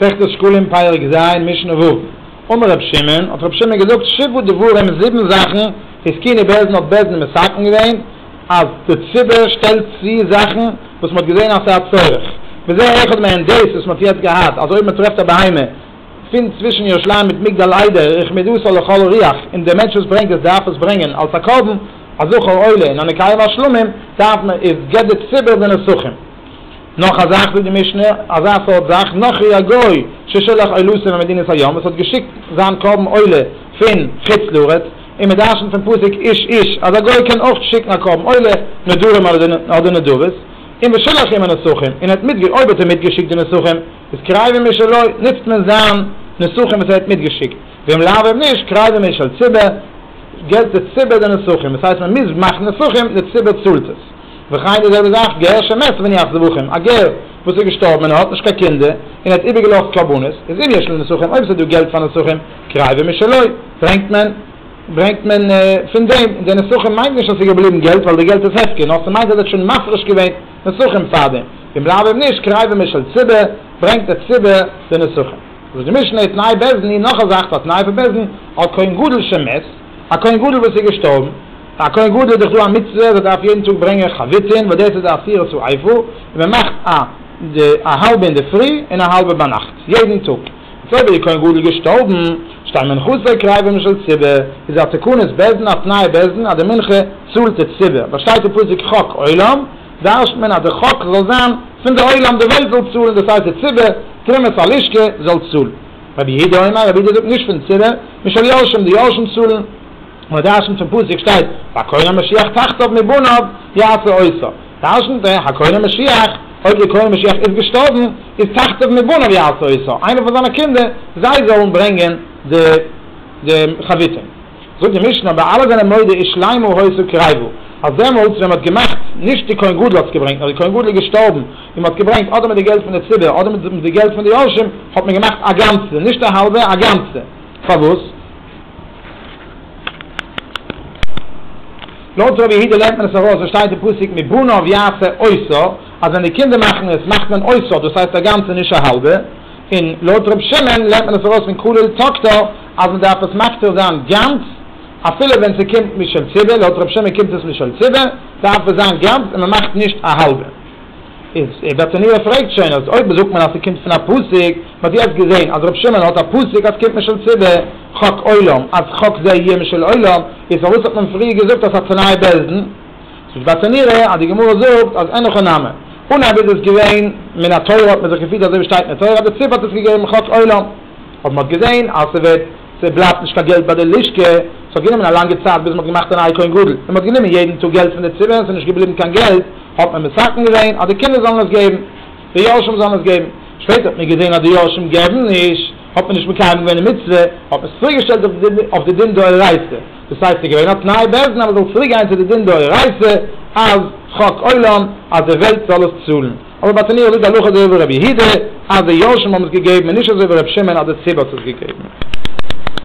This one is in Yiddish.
מסכת שקלים פרק ז' משנה ו' אמר ר' שמעון, האט ר' שמעון געזאגט, שבעה דברים זיבן זאכן איז זקני בעלז און האט בעלז נישט מסכם געווען אז די ציבור שטעלט צו זאכן וואס מ'האט געזען אז ס'האט צורך וזה אחד מהן דאס וואס מ'האט יעצט געהאט אז אויב מ'טרעפט א בהמה פון צווישן ירושלים מיט מגדל איידער רחמדותא לכל ריח און דער מענטש וואס ברענגט עס דארף עס ברענגען אלס א קרבן א זכר עולה און א מקיים השלמים דארף מען איז גט די ציבור די נסכים. נאך א זאך זאגט די משנה, אזא סארט זאך, נוכרי א גוי ששלח אילוסין על מדינת הים, וואס האט געשיקט זיין קרבן עולה פון חוץ לארץ, און מען דרשנ'ט פון פסוק איש איש אז א גוי קען אויך שיקן א קרבן עולה, נדרים אדער נדבות, און ושלח עמו נסכים, און ער האט מיטגעש, אויב האט ער מיטגעשיקט די נסכים, איז קרייבים משלו, נוצט מען זיין נסכים וואס ער האט מיטגעשיקט, ואם לאו אויב נישט, קרייבים משל ציבור, געלט די ציבור די נסכים, דאס הייסט מען מוז מאכן נסכים, די ציבור צאלט עס. וכן די זעלבע זאך גר שמת מן יחז זבחים, א גר וואס איז געשטארבן און ער האט נישט קיין קינדער און ער האט איבערגעלאזט קרבנות, איז אם יש לו נסכים אויב עס איז דא געלט פאר נסכים, קרייבער משלו, ברענגט מען ברענגט מען פון דעם, און די נסכים מיינט נישט אז עס איז געבליבן געלט ווייל די געלט איז הפקר, נאר עס מיינט אז ער האט שוין מפריש געווען נסכים פארדעם, אם לאו אויב נישט קרייבער משל ציבור, ברענגט דער ציבור די נסכים. זאגט די משנה, תנאי בית דין, נאך א זאך פאר תנאי פון בית דין, על כהן גדול שמת, א כהן גדול וואס איז געשטארבן, ביי א כהן גדול איז דאך דא א מצוה אז ער דארף יעדן טאג ברענגען חביתין וואס דאס איז די עשירית צו אייפל, און מען מאכט א א האלבע אינדערפרי און א האלבע ביינאכט יעדן טאג, יעצט אויב איז די כהן גדול געשטארבן שתי מנחות עקרה אבי משל ציבור, איז א תקנת בעסדין א תנאי בעסדין אז די מנחה צאלט די ציבור, ווייל שטייט אין פסוק חק עולם, דרש'ט מען אז די חק זאל זיין פון די עולם די וועלט זאל צאלן דאס הייסט די ציבור תרומת הלשכה זאל צאלן, רבי יהודה אומר רבי יהודה זאגט נישט פון ציבור משל יורשים די יורשים צאלן. מדרשן צום פסוק שטייט ביי קרן המשיח תחטוף מבניו יעשה עושר תשנ ט, הקרן המשיח, אויב דער קרן המשיח איז געשטארבן, איז תחטוף מבניו יעשה עושר, איינער פון זיינע קינדער, זיי זאלן ברענגען די די חביתים. זאגט די משנה אבער אלע זענען מודה איש שלימו העושר קרבו, אז דעמאלטס ווען מען האט געמאכט, נישט די כהן גדול האט עס געברענגט, נאר די כהן גדול איז געשטארבן, און מען האט געברענגט אדער מיט די געלט פון די ציבור אדער מיט די געלט פון די יורשים, האט מען געמאכט א גאנצע, נישט א האלבע, א גאנצע. פארוואס? לויט רבי יהודה לערנט מען עס ארויס וואס שטייט אין פסוק מבניו יעשה עושר אז ווען די קינדער מאכן עס מאכט מען עושר דאס הייסט א גאנצע נישט א האלבע, און לויט ר' שמעון לערנט מען עס ארויס פון כולל תקטר אז מען דארף עס מקטיר זיין גאנץ אפילו ווען ס'קומט משל ציבה, לויט ר' שמעון קומט עס משל ציבה דארף עס זיין גאנץ און מען מאכט נישט א האלבע. איז ער בעצם ניו ער פרעגט שוין אז אויב זאגט מען אז ס'קומט פון א פסוק, מ'האט יעצט געזעהן אז רב שמעון האט א פסוק אז ס'קומט משל ציבה חק עולם אז חק זה יהיה משל עולם, איז פארוואס האט מען פריער געזאגט אז התנאי בעז ד? ס'איז בעצם ניו ער אז די גמרא זאגט אז אין הכא נמי, אנהייב איז עס געווען מן התורה האט מען זיך געפירט אזוי ווי שטייט אין די תורה אז די ציבה האט עס געגעבן חק עולם, אבער מ'האט געזעהן אז ס'ווערט ס'בלייבט נישט קיין געלט ביי די לשכה, ס'האט גענומען א לאנגע צייט ביז מ'האט געמאכט א נייע כהן גדול, און מ'האט גענומען יעדן טאג געלט פון די ציבה און ס'איז נישט געבליבן קיין געלט, האט מען מסכם געווען אז די קינדער זאלן עס געבן, די יורשים זאלן עס געבן, שפעטער האט מען געזען אז די יורשים געבן נישט, האט מען נישט מקיים געווען די מצוה, האט מען עס צוריק געשטעלט אויף די אויף די דין דאורייתא, דאס הייסט עס איז געווען א תנאי בעז ה אז מען זאל צוריק גיין צו די דין דאורייתא אז חוק עולם אז די וועלט זאל עס צאלן, אבער ביי תניאל איז די הלכה אזוי ווי ר' יהודה אז די יורשים האבן עס געגעבן און נישט אזוי ווי ר' שמעון אז די ציבור האט עס געגעבן.